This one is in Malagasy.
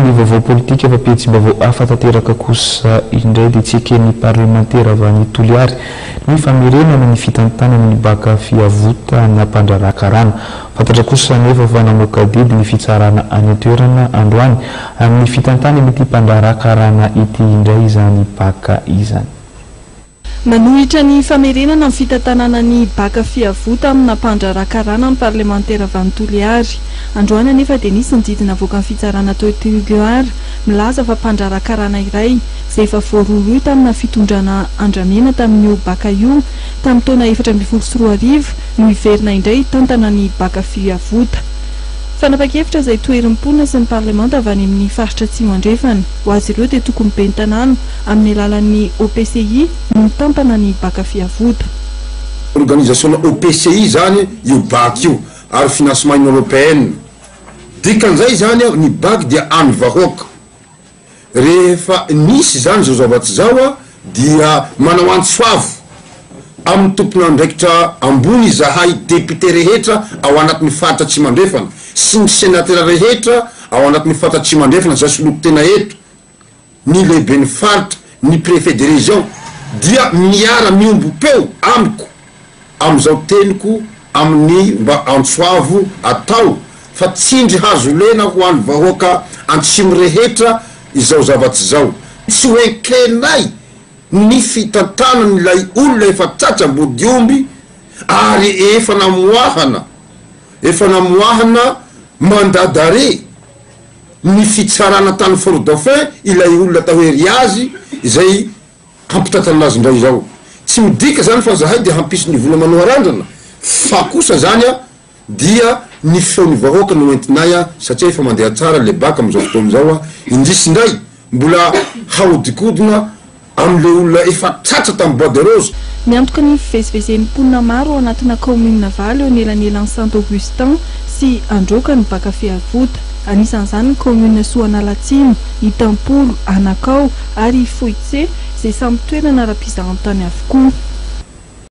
Ny vaovao politika efa pejim-baovao hafa tanteraka kosa indray dia tsy eken'ny parlemantera avy any Toliary ny famerenana ny fitantanana ny baka fiavotana mpandraharaha karana. Fantatra kosa anefa fa namoaka didy ny fitsarana any an-toerana androany amin'ny fitantanan'ity mpandraharaha karana ity indray izany baka izany. Manohitra ny famerenana ny fitantanana ny baka fiavota amina mpandraharaha karana ny parlemantera Vano Toliary. Androany anefa dia nisy ny didy navoakan'ny fitsarana tao Toliara milaza fa mpandraharaha karana iray izay efa voarohirohy tamina fitondrana Andramena tamin'io baka io tamin'ny taona efatra ambin'ny folo sy roa arivo no hiverina indray hitantana ny baka fiavota. Fanapan-kevitra izay toherin'ny mponina sy ny parlemanta avy any amin'ny faritra Atsimo Andrefana. Ho azy ireo dia tokony ben'ny tanàna Amin'ny alalan'ny OPCI no mitantana ny Baka Fiavoda. Organizasiona OPCI izany io Baka io ary Financement Inoropeana. Dikan'izay izany aho, ny Baka dia an'ny vahoaka. Rehefa nisy izany izao zava-tsy izao aho dia manao antso avo amin'ny tompon'andraikitra ambony izahay Député rehetra ao anatin'ny Faritra Atsimandrefana sy ny Senatera rehetra ao anatin'ny Faritra Atsimandrefana izay solonko tena eto ny lehiben'ny faritra, ny préfet de région, dia miara miombom-peo amiko amin'izao teniko amin'ny mba antsoavo atao fa tsindry hazo lena ho an'ny vahoaka antsimo rehetra izao zavatsy izao. Tsy ho enkenay ny fitantanan'ilay olona efa tratra ambodiomby ary efa namoahana efa namoahana mandat d'arrêt. ny fitsarana tany Fort Dauphin ilay olona atao hoe Riazy izay hampitantana anazy indray izao. Tsy midika izany fa zahay dia hampisy ny vola manao arandrana fa kosa zany a dia ny feon'ny vahoaka no entinay a satria efa mandeha tsara lebaka amizao fotoana izao a. Indrisy indray Mbola hahodinkodina amin'ireo olona efa tratra tamin'ny Bois de Rose. Miantoka ny fivezivezen'ny mponina maro ao anatina kaominina valo eo anelanelan'i Santo Augustin sy Androka ny baka Fehavota. Anisan'izany ny kaominina Soanalatsimo, Itampolo, Anakao ary Foitse izay samy toerana ara-pizahantany avokoa.